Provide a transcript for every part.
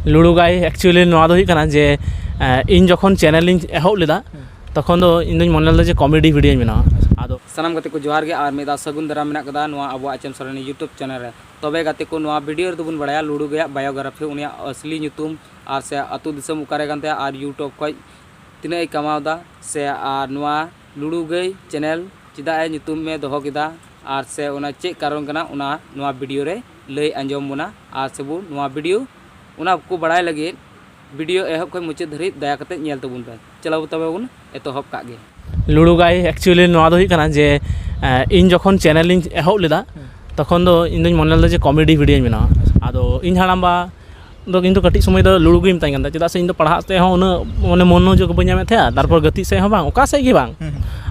ᱞᱩᱲᱩ ᱜᱟᱭ ᱮᱠᱪᱩᱭᱮᱞᱤ ᱱᱚᱣᱟ ᱫᱚ ᱦᱩᱭᱩᱜ ᱠᱟᱱᱟ ᱡᱮ ᱤᱧ ᱡᱚᱠᱷᱚᱱ ᱪᱮᱱᱮᱞ ᱤᱧ ᱮᱦᱚᱵ ᱞᱮᱫᱟ ᱛᱚᱠᱷᱚᱱ ᱫᱚ ᱤᱧ ᱫᱚᱧ ᱢᱚᱱᱮ ᱞᱮᱫᱟ ᱡᱮ ᱠᱚᱢᱮᱰᱤ ᱵᱷᱤᱰᱤᱭᱳᱧ ᱵᱮᱱᱟᱣᱟ ᱟᱫᱚ ᱥᱟᱱᱟᱢ ᱜᱟᱛᱮ ᱠᱚ ᱡᱚᱦᱟᱨ ᱜᱮ ᱟᱨ ᱢᱤᱫ ᱫᱷᱟᱣ ᱥᱟᱹᱜᱩᱱ ᱫᱟᱨᱟᱢ ᱢᱮᱱᱟᱜ ᱠᱟᱫᱟ ᱱᱚᱣᱟ ᱟᱵᱚ ᱟᱪᱮᱢ ᱥᱚᱨᱮᱱ ᱭᱩᱴᱩᱵᱽ ᱪᱮᱱᱮᱞ ᱨᱮ ᱛᱚᱵᱮ ᱜᱟᱛᱮ ᱠᱚ ᱱᱚᱣᱟ ᱵᱷᱤᱰᱤᱭᱳ ᱨᱮᱫᱚ ᱵᱚᱱ ᱵᱟᱲᱟᱭᱟ ᱞᱩᱲᱩ ᱜᱟᱭᱟᱜ ᱵᱟᱭᱳᱜᱨᱟᱯᱷᱤ ᱩᱱᱤᱭᱟᱜ ᱟᱥᱞᱤ ᱧᱩᱛᱩᱢ ᱟᱨ ᱥᱮ ᱟᱹᱛᱩ ᱫᱤᱥᱚᱢ ᱚᱠᱟᱨᱮ ᱠᱟᱱ ᱛᱟᱭᱟ ᱟᱨ ᱭᱩᱴᱩᱵᱽ ᱠᱷᱚᱡ ᱛᱤᱱᱟᱹᱜ ᱮ ᱠᱟᱢᱟᱣᱫᱟ ᱥᱮ ᱟᱨ ᱱᱚᱣᱟ ᱞᱩᱲᱩ ᱜᱟᱹᱭ ᱪᱮᱱᱮᱞ ᱪᱮᱫᱟᱜ ᱮ ᱧᱩᱛᱩᱢ ᱮ ᱫᱚᱦᱚ ᱠᱮᱫᱟ ᱟᱨ ᱥᱮ ᱚᱱᱟ ᱪᱮᱫ ᱠᱟᱨᱚᱱ ᱠᱟᱱᱟ ᱚᱱᱟ ᱱᱚᱣᱟ ᱵᱷᱤᱰᱤᱭᱳ ᱨᱮ ᱞᱟᱹᱭ ᱟᱸᱡᱚᱢ ᱵᱚᱱᱟ ᱟᱨ ᱥᱮ ᱵᱚᱱ ᱱᱚᱣᱟ ᱵᱷᱤᱰᱤᱭᱳ ᱚᱱᱟ ᱠᱚ ᱵᱟᱲᱟᱭ ᱞᱟᱹᱜᱤᱫ ᱵᱷᱤᱰᱤᱭᱳ ᱮᱦᱚᱵ ᱠᱷᱚᱱ ᱢᱩᱪᱟᱹᱫ ᱫᱷᱟᱹᱨᱤᱡ ᱫᱟᱭᱟ ᱠᱟᱛᱮ ᱧᱮᱞ ᱛᱟᱵᱚᱱ ᱯᱮ ᱪᱚᱞᱚ ᱛᱚᱵᱮ ᱵᱚᱱ ᱮᱛᱚᱦᱚᱵ ᱠᱟᱜ ᱜᱮ᱾ ᱞᱩᱲᱩ ᱜᱟᱹᱭ ᱮᱠᱪᱩᱭᱮᱞᱤ ᱱᱚᱣᱟ ᱫᱚ ᱦᱩᱭᱩᱜ ᱠᱟᱱᱟ ᱡᱮ ᱤᱧ ᱡᱚᱠᱷᱚᱱ ᱪᱮᱱᱮᱞ ᱤᱧ ᱮᱦᱚᱵ ᱞᱮᱫᱟ ᱛᱚᱠᱷᱚᱱ ᱫᱚ ᱤᱧ ᱫᱚᱧ ᱢᱚᱱᱮ ᱞᱮᱫᱟ ᱡᱮ ᱠᱚᱢᱮᱰᱤ ᱵᱷᱤᱰᱤᱭᱳᱧ ᱵᱮᱱᱟᱣᱟ ᱟᱫᱚ ᱤᱧ ᱦᱟᱲᱟᱢᱵᱟ ᱫᱚ ᱠᱤᱱᱛᱩ ᱠᱟᱹᱴᱤᱡ ᱥᱚᱢᱚᱭ ᱫᱚ ᱞᱩᱲᱩ ᱜᱮ ᱢᱤᱛᱟᱹᱧ ᱠᱟᱱ ᱛᱟᱦᱮᱸᱫ ᱪᱮᱫᱟᱜ ᱥᱮ ᱤᱧ ᱫᱚ ᱯᱟᱲᱦᱟᱜ ᱥᱮᱫ ᱦᱚᱸ ᱩᱱᱟᱹᱜ ᱢᱟᱱᱮ ᱢᱚᱱᱚᱡᱳᱜᱽ ᱵᱟᱹᱧ ᱧᱟᱢᱮᱫ ᱛᱟᱦᱮᱸᱫᱼᱟ ᱛᱟᱨᱯᱚᱨ ᱜᱟᱛᱮᱜ ᱥᱮᱫ ᱦᱚᱸ ᱵᱟᱝ ᱚᱠᱟ ᱥᱮᱫ ᱜᱮ ᱵᱟᱝ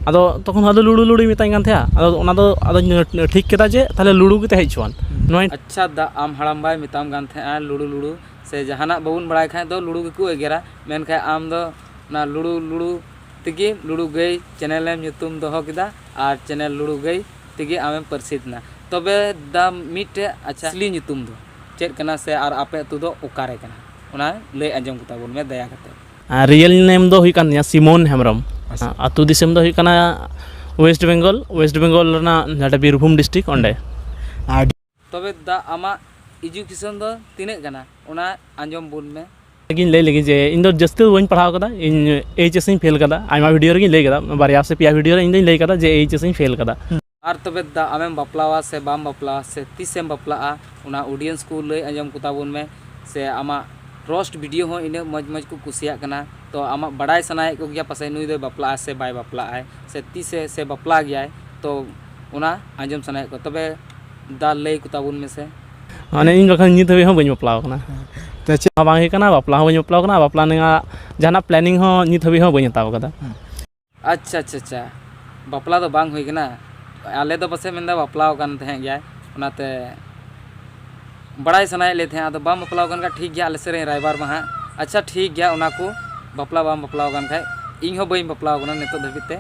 ᱟᱫᱚ ᱛᱚᱠᱷᱚᱱ ᱟᱫᱚ ᱞᱩᱲᱩ ᱞᱩᱲᱩᱭ ᱢᱤᱛᱟᱹᱧ ᱠᱟᱱ ᱛᱟᱦᱮᱸᱫᱼᱟ ᱟᱫᱚ ᱚᱱᱟ ᱫᱚ ᱟᱫᱚᱧ ᱴᱷᱤᱠ ᱠᱮᱫᱟ ᱡᱮ ᱛᱟᱦᱚᱞᱮ ᱞᱩᱲᱩ ᱜᱮ ᱛᱟᱦᱮᱸ ᱦᱚᱪᱚᱣᱟᱱ ᱱᱚᱣᱟᱧ ᱟᱪᱪᱷᱟ ᱫᱟ ᱟᱢ ᱦᱟᱲᱟᱢ ᱵᱟᱭ ᱢᱮᱛᱟᱢ ᱠᱟᱱ ᱛᱟᱦᱮᱸᱫᱼᱟ ᱞᱩᱲᱩ ᱞᱩᱲᱩ ᱥᱮ ᱡᱟᱦᱟᱱᱟᱜ ᱵᱟᱵᱚᱱ ᱵᱟᱲᱟᱭ ᱠᱷᱟᱱ ᱫᱚ ᱞᱩᱲᱩ ᱜᱮᱠᱚ ᱮᱜᱮᱨᱟ ᱢᱮᱱᱠᱷᱟᱱ ᱟᱢ ᱫᱚ ᱚᱱᱟ ᱞᱩᱲᱩ ᱞᱩᱲᱩ ᱛᱮᱜᱮ ᱞᱩᱲᱩ ᱜᱟᱹᱭ ᱪᱮᱱᱮᱞ ᱮᱢ ᱧᱩᱛᱩᱢ ᱫᱚᱦᱚ ᱠᱮᱫᱟ ᱟᱨ ᱪᱮᱱᱮᱞ ᱞᱩᱲᱩ ᱜᱟᱹᱭ ᱛᱮᱜᱮ ᱟᱢᱮᱢ ᱯᱟᱹᱨᱥᱤᱛ ᱮᱱᱟ᱾ ᱛᱚᱵᱮ ᱫᱟ ᱢᱤᱫᱴᱮᱡ ᱟᱥᱞᱤ ᱧᱩᱛᱩᱢ ᱫᱚ ᱪᱮᱫ ᱠᱟᱱᱟ ᱥᱮ ᱟᱨ ᱟᱯᱮ ᱟᱹᱛᱩ ᱫᱚ ᱚᱠᱟᱨᱮ ᱠᱟᱱᱟ ᱚᱱᱟ ᱞᱟᱹᱭ ᱟᱸᱡᱚᱢ ᱠᱚᱛᱟ ᱵᱚᱱ ᱢᱮ ᱫᱟᱭᱟ ᱠᱟᱛᱮ᱾ ᱨᱤᱭᱮᱞ ᱱᱮᱢ ᱫᱚ ᱦᱩᱭᱩᱜ ᱠᱟᱱ ᱛᱤᱧᱟ ᱥᱤᱢᱚᱱ ᱦᱮᱢᱵᱨᱚᱢ᱾ ᱟᱹᱛᱩ ᱫᱤᱥᱚᱢ ᱫᱚ ᱦᱩᱭᱩᱜ ᱠᱟᱱᱟ ᱳᱭᱮᱥᱴ ᱵᱮᱝᱜᱚᱞ, ᱳᱭᱮᱥᱴ ᱵᱮᱝᱜᱚᱞ ᱨᱮᱱᱟᱜ ᱡᱟᱦᱟᱸᱴᱟᱜ ᱵᱤᱨᱵᱷᱩᱢ ᱰᱤᱥᱴᱨᱤᱠ ᱚᱸᱰᱮ᱾ ᱛᱚᱵᱮ ᱫᱟ ᱟᱢᱟᱜ ᱤᱡᱩᱠᱮᱥᱚᱱ ᱫᱚ ᱛᱤᱱᱟᱹᱜ ᱠᱟᱱᱟ ᱚᱱᱟ ᱟᱸᱡᱚᱢ ᱵᱚᱱ ᱢᱮ᱾ ᱜᱤᱧ ᱞᱟᱹᱭ ᱞᱮᱜᱮ ᱡᱮ ᱤᱧ ᱫᱚ ᱡᱟᱹᱥᱛᱤ ᱫᱚ ᱵᱟᱹᱧ ᱯᱟᱲᱦᱟᱣ ᱠᱟᱫᱟ ᱤᱧ ᱮᱭᱤᱪ ᱮᱥ ᱤᱧ ᱯᱷᱮᱞ ᱠᱟᱫᱟ ᱟᱭᱢᱟ ᱵᱷᱤᱰᱤᱭᱳ ᱨᱮᱜᱤᱧ ᱞᱟᱹᱭ ᱠᱟᱫᱟ ᱵᱟᱨᱭᱟ ᱥᱮ ᱯᱮᱭᱟ ᱵᱷᱤᱰᱤᱭᱳ ᱨᱮ ᱤᱧ ᱫᱚᱧ ᱞᱟᱹᱭ ᱠᱟᱫᱟ ᱡᱮ ᱮᱭᱤᱪ ᱮᱥ ᱤᱧ ᱯᱷᱮᱞ ᱠᱟᱫᱟ᱾ ᱟᱨ ᱛᱚᱵᱮ ᱫᱟ ᱟᱢᱮᱢ ᱵᱟᱯᱞᱟᱣᱟ ᱥᱮ ᱵᱟᱢ ᱵᱟᱯᱞᱟᱣᱟ ᱥᱮ ᱛᱤᱥ ᱮᱢ ᱵᱟᱯᱞᱟᱜᱼᱟ ᱚᱱᱟ ᱚᱰᱤᱭᱮᱱᱥ ᱠᱚ ᱞᱟᱹᱭ ᱟᱸᱡᱚᱢ ᱠᱚᱛᱟ ᱵᱚᱱ ᱢᱮ ᱥᱮ ᱟᱢᱟᱜ ᱨᱚᱥᱴ ᱵᱷᱤᱰᱤᱭᱳ ᱦᱚᱸ ᱤᱱᱟᱹᱜ ᱢᱚᱡᱽ ᱢᱚᱡᱽ ᱠᱚ ᱠᱩᱥᱤᱭᱟᱜ ᱠᱟᱱᱟ ᱛᱚ ᱟᱢᱟᱜ ᱵᱟᱰᱟᱭ ᱥᱟᱱᱟᱭᱮᱫ ᱠᱚ ᱜᱮᱭᱟ ᱯᱟᱥᱮᱡ ᱱᱩᱭ ᱫᱚᱭ ᱵᱟᱯᱞᱟᱜᱼᱟ ᱥᱮ ᱵᱟᱭ ᱵᱟᱯᱞᱟᱜᱼᱟᱭ ᱥᱮ ᱛᱤᱥᱮ ᱥᱮ ᱵᱟᱯᱞᱟ ᱜᱮᱭᱟᱭ ᱛᱚ ᱚᱱᱟ ᱟᱸᱡᱚᱢ ᱥᱟᱱᱟᱭᱮᱫ ᱠᱚᱣᱟ ᱛᱚᱵᱮ ᱫᱟ ᱞᱟᱹᱭ ᱠᱚ ᱛᱟᱵᱚᱱ ᱢᱮᱥᱮ ᱢᱟᱱᱮ ᱤᱧ ᱵᱟᱠᱷᱟᱱ ᱱᱤᱛ ᱫᱷᱟᱹᱵᱤᱡ ᱦᱚᱸ ᱵᱟᱹᱧ ᱵᱟᱯᱞᱟᱣ ᱠᱟᱱᱟ ᱛᱚ ᱪᱮᱫ ᱦᱚᱸ ᱵᱟᱝ ᱦᱩᱭ ᱠᱟᱱᱟ ᱵᱟᱯᱞᱟ ᱦᱚᱸ ᱵᱟᱹᱧ ᱵᱟᱯᱞᱟᱣ ᱠᱟᱱᱟ ᱵᱟᱯᱞᱟ ᱱᱤᱭᱟᱹ ᱡᱟᱦᱟᱱᱟᱜ ᱯᱞᱮᱱᱤᱝ ᱦᱚᱸ ᱱᱤᱛ ᱦᱟᱹᱵᱤᱡ ᱦᱚᱸ ᱵᱟᱹᱧ ᱦᱟᱛᱟᱣ ᱠᱟᱫᱟ ᱟᱪᱪᱷᱟ ᱟᱪᱪᱷᱟ ᱟᱪᱪᱷᱟ ᱵᱟᱯᱞᱟ ᱫᱚ ᱵᱟᱝ ᱦᱩᱭ ᱠᱟᱱᱟ ᱟᱞᱮ ᱫᱚ ᱯᱟᱥᱮᱡ ᱢᱮᱱᱫᱟ ᱵᱟᱯᱞᱟᱣ ᱠᱟᱱ ᱛᱟᱦᱮᱸᱫ ᱜᱮᱭᱟᱭ ᱚᱱᱟᱛᱮ ᱵᱟᱲᱟᱭ ᱥᱟᱱᱟᱭᱮᱫ ᱞᱮ ᱛᱟᱦᱮᱸᱫ ᱟᱫᱚ ᱵᱟᱢ ᱵᱟᱯᱞᱟᱣ ᱠᱟᱱ ᱠᱷᱟᱡ ᱴᱷᱤᱠ ᱜᱮᱭᱟ ᱟᱞᱮ ᱥᱮᱫ ᱨᱮᱱ ᱨᱟᱭᱵᱟᱨ ᱢᱟ ᱦᱟᱸᱜ ᱟᱪᱪᱷᱟ ᱴᱷᱤᱠ ᱜᱮᱭᱟ ᱚᱱᱟ ᱠᱚ ᱵᱟᱯᱞᱟ ᱵᱟᱢ ᱵᱟᱯᱞᱟᱣ ᱠᱟᱱ ᱠᱷᱟᱡ ᱤᱧ ᱦᱚᱸ ᱵᱟᱹᱧ ᱵᱟᱯᱞᱟᱣ ᱠᱟᱱᱟ ᱱᱤᱛᱚᱜ ᱫᱷᱟᱹᱵᱤᱡ ᱛᱮ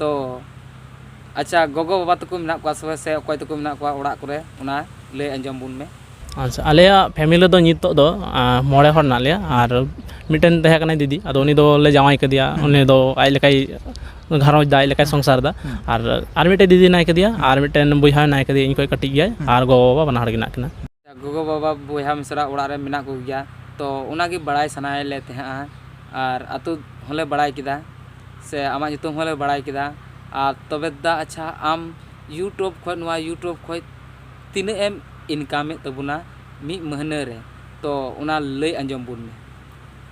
ᱛᱚ ᱟᱪᱪᱷᱟ ᱜᱚᱜᱚ ᱵᱟᱵᱟ ᱛᱟᱠᱚ ᱢᱮᱱᱟᱜ ᱠᱚᱣᱟ ᱥᱮ ᱥᱮ ᱚᱠᱚᱭ ᱛᱟᱠᱚ ᱢᱮᱱᱟᱜ ᱠᱚᱣᱟ ᱚᱲᱟᱜ ᱠᱚᱨᱮ ᱚᱱᱟ ᱞᱟᱹᱭ ᱟᱸᱡᱚᱢ ᱵᱚᱱ ᱢᱮ ᱟᱪᱪᱷᱟ ᱟᱞᱮᱭᱟᱜ ᱯᱷᱮᱢᱮᱞᱤ ᱫᱚ ᱱᱤᱛᱚᱜ ᱫᱚ ᱢᱚᱬᱮ ᱦᱚᱲ ᱢᱮᱱᱟᱜ ᱞᱮᱭᱟ ᱟᱨ ᱢᱤᱫᱴᱮᱱ ᱛᱟᱦᱮᱸ ᱠᱟᱱᱟᱭ ᱫᱤᱫᱤ ᱟᱫᱚ ᱩᱱᱤ ᱫᱚᱞᱮ ᱡᱟᱶᱟᱭ ᱠᱟᱫᱮᱭᱟ ᱩᱱᱤ ᱫᱚ ᱟᱡ ᱞᱮᱠᱟᱭ ᱜᱷᱟᱨᱚᱸᱡᱽ ᱫᱟᱭ ᱟᱡ ᱞᱮᱠᱟᱭ ᱥᱚᱝᱥᱟᱨ ᱫᱟ ᱟᱨ ᱟᱨ ᱢᱤᱫᱴᱮᱱ ᱫᱤᱫᱤ ᱢᱮᱱᱟᱭ ᱠᱟᱫᱮᱭᱟ ᱟᱨ ᱢᱤᱫᱴᱮᱱ ᱵᱚᱭᱦᱟ ᱢᱮᱱᱟᱭ ᱠᱟᱫᱮᱭᱟ ᱤᱧ ᱠᱷᱚᱱ ᱠᱟᱹᱴᱤᱡ ᱜᱮᱭᱟᱭ ᱟᱨ ᱜᱚᱜᱚ ᱵᱟᱵᱟ ᱵᱟᱱᱟ ᱦᱚᱲ ᱜᱮ ᱢᱮᱱᱟᱜ ᱠᱤᱱᱟ ᱜᱚᱜᱚ ᱵᱟᱵᱟ ᱵᱚᱭᱦᱟ ᱢᱤᱥᱨᱟ ᱚᱲᱟᱜ ᱨᱮ ᱢᱮᱱᱟᱜ ᱠᱚ ᱜᱮᱭᱟ ᱛᱚ ᱚᱱᱟ ᱜᱮ ᱵᱟᱲᱟᱭ ᱥᱟᱱᱟᱭᱮᱫ ᱞᱮ ᱛᱟᱦᱮᱸᱫᱼᱟ ᱟᱨ ᱟᱹᱛᱩ ᱦᱚᱸᱞᱮ ᱵᱟᱲᱟᱭ ᱠᱮᱫᱟ ᱥᱮ ᱟᱢᱟᱜ ᱧᱩᱛᱩᱢ ᱦᱚᱸᱞᱮ ᱵᱟᱲᱟᱭ ᱠᱮᱫᱟ ᱟᱨ ᱛᱚᱵᱮ ᱫᱟ ᱟᱪᱪᱷᱟ ᱟᱢ ᱤᱭᱩᱴᱩᱵᱽ ᱠᱷᱚᱱ ᱱᱚᱣᱟ ᱤᱭᱩᱴᱩᱵᱽ ᱠᱷᱚᱱ ᱛᱤᱱᱟᱹᱜ ᱮᱢ ᱤᱱᱠᱟᱢᱮᱫ ᱛᱟᱵᱚᱱᱟ ᱢᱤᱫ ᱢᱟᱹᱦᱱᱟᱹ ᱨᱮ ᱛᱚ ᱚᱱᱟ ᱞᱟᱹᱭ ᱟᱸᱡᱚᱢ ᱵᱚᱱ ᱢᱮ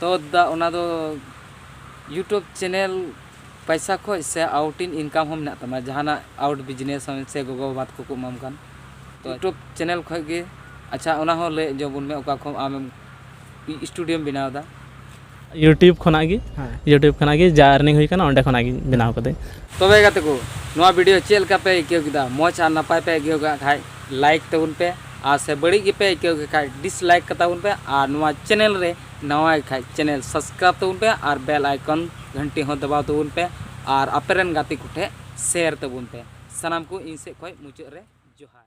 ᱛᱚ ᱫᱟ ᱚᱱᱟ ᱫᱚ ᱭᱩᱴᱩᱵᱽ ᱪᱮᱱᱮᱞ ᱯᱟᱭᱥᱟ ᱠᱷᱚᱡ ᱥᱮ ᱟᱣᱩᱴ ᱤᱱ ᱤᱱᱠᱟᱢ ᱦᱚᱸ ᱢᱮᱱᱟᱜ ᱛᱟᱢᱟ ᱡᱟᱦᱟᱱᱟᱜ ᱟᱣᱩᱴ ᱵᱤᱡᱽᱱᱮᱥ ᱦᱚᱸ ᱥᱮ ᱜᱚᱜᱚ ᱵᱟᱵᱟ ᱛᱟᱠᱚ ᱠᱚ ᱮᱢᱟᱢ ᱠᱟᱱ ᱛᱚ ᱭᱩᱴᱩᱵᱽ ᱪᱮᱱᱮᱞ ᱠᱷᱚᱡ ᱜᱮ ᱟᱪᱪᱷᱟ ᱚᱱᱟ ᱦᱚᱸ ᱞᱟᱹᱭ ᱟᱸᱡᱚᱢ ᱟᱵᱚᱱ ᱢᱮ ᱚᱠᱟ ᱠᱷᱚᱡ ᱟᱢᱮᱢ ᱥᱴᱩᱰᱤᱭᱳᱢ ᱵᱮᱱᱟᱣ ᱮᱫᱟ ᱭᱩᱴᱩᱵᱽ ᱠᱷᱚᱱᱟᱜ ᱜᱮ ᱭᱩᱴᱩᱵᱽ ᱠᱷᱚᱱᱟᱜ ᱜᱮ ᱡᱟ ᱟᱨᱱᱤᱝ ᱦᱩᱭ ᱠᱟᱱᱟ ᱚᱸᱰᱮ ᱠᱷᱚᱱᱟᱜ ᱜᱮ ᱵᱮᱱᱟᱣ ᱠᱟᱹᱫᱟᱹᱧ᱾ ᱛᱚᱵᱮ ᱜᱟᱛᱮ ᱠᱚ ᱱᱚᱣᱟ ᱵᱷᱤᱰᱤᱭᱳ ᱪᱮᱫ ᱞᱮᱠᱟ ᱯᱮ ᱟᱹᱭᱠᱟᱹᱣ ᱠᱮᱫᱟ ᱢᱚᱡᱽ ᱟᱨ ᱱᱟᱯᱟᱭ ᱯᱮ ᱟᱹᱭᱠᱟᱹᱣ ᱠᱟᱜ ᱠᱷᱟᱡ ᱞᱟᱭᱤᱠ ᱛᱟᱵᱚᱱ ᱯᱮ᱾ ᱟᱨ ᱥᱮ ᱵᱟᱹᱲᱤᱡ ᱜᱮᱯᱮ ᱟᱹᱭᱠᱟᱹᱣ ᱠᱮᱫ ᱠᱷᱟᱡ ᱰᱤᱥᱞᱟᱭᱤᱠ ᱠᱟᱛᱟᱵᱚᱱ ᱯᱮ ᱟᱨ ᱱᱚᱣᱟ ᱪᱮᱱᱮᱞ ᱨᱮ ᱱᱟᱣᱟ ᱜᱮ ᱠᱷᱟᱡ ᱪᱮᱱᱮᱞ ᱥᱟᱵᱥᱠᱨᱟᱭᱤᱵ ᱛᱟᱵᱚᱱ ᱯᱮ ᱟᱨ ᱵᱮᱞ ᱟᱭᱠᱚᱱ ᱜᱷᱟᱱᱴᱤ ᱦᱚᱸ ᱫᱟᱵᱟᱣ ᱛᱟᱵᱚᱱ ᱯᱮ ᱟᱨ ᱟᱯᱮ ᱨᱮᱱ ᱜᱟᱛᱮ ᱠᱚᱴᱷᱮᱡ ᱥᱮᱭᱟᱨ ᱛᱟᱵᱚᱱ ᱯᱮ ᱥᱟᱱᱟᱢ ᱠᱚ ᱤᱧ ᱥᱮᱫ ᱠᱷᱚᱡ ᱢᱩᱪᱟᱹᱫ ᱨᱮ ᱡᱚᱦᱟᱨ